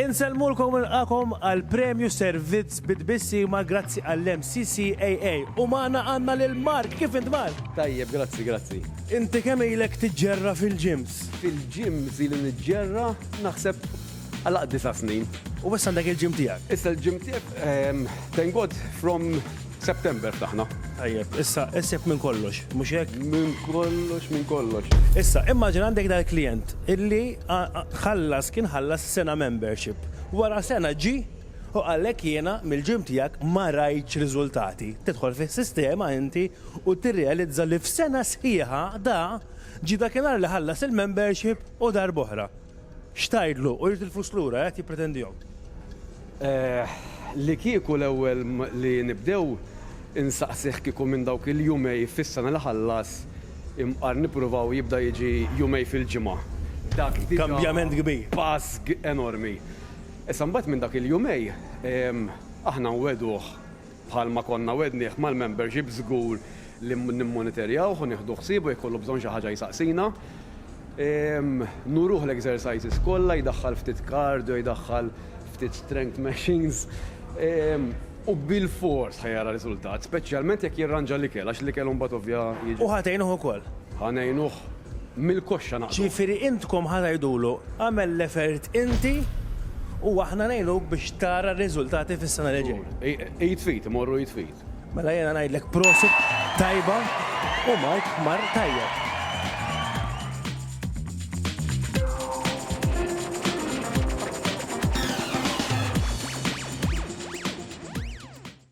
Insellmulkom u nilqagħkom għall-Premju Servizz bi Tbissim għal Grazzi għall-MCCAA u magħna għandna lil Mark, kif int Mark? Tajjeb, grazzi, grazzi. Inti kemm ilek tiġġerra fil-gyms? Fil-gyms ili niġġerra naħseb għal aqd disa' snin. U issa għandek il-gym tiegħek? Issa l-gym tiegħi, thank God, from September ftaħna. Tajjeb, issa issib minn kollox, mhux hekk? Minn kollox, minn kollox. Issa, immaġina għandek dal-klijent illi ħallas, kien ħallas sena membership. Wara sena ġie u qalek jiena mill-gym tiegħek ma rajtx riżultati. Tidħol fis-sistema inti u tirrealizza li f'sena sħiħa da ġie dakinhar li ħallas il-membership u darb'oħra. X'tgħidlu? U jrid il-flus lura, qed jippretendihom. Eħ, li kieku l-ewwel li nibdew insaqsih kieku minn dawk il-jumej fis-sena li ħallas imqar nippruvaw jibda jiġi jumej fil-ġimgħa. Dak diġà. Kambjament kbir. Pass enormi. Issa mbagħad minn dak il-jumej aħna nwegħduh Bħalma konna wegħdnieh mal-membership żgur li nimmonitorjawh u nieħdu ħsieb u jekk ikollu bżonn xi ħaġa jsaqsina. Nuruh l-exercises kollha, jdaħħal ftit cardio, jdaħħal ftit strength machines. U bilfors ħa jara riżultat, speċjalment jekk jirranġa l-ikel għax l-ikel imbagħad ovvja jiġi. U ħa tgħinuh ukoll? Ħa ngħinuh mill-koxxa naqdu. Ġifieri intkom ħa tgħidulu agħmel l-effort inti u aħna ngħinuk biex tara r-riżultati fis-sena li ġejja. Id f'id, imorru id f'id. Mela jiena ngħidlek prosit tajba u Mark mar tajjeb.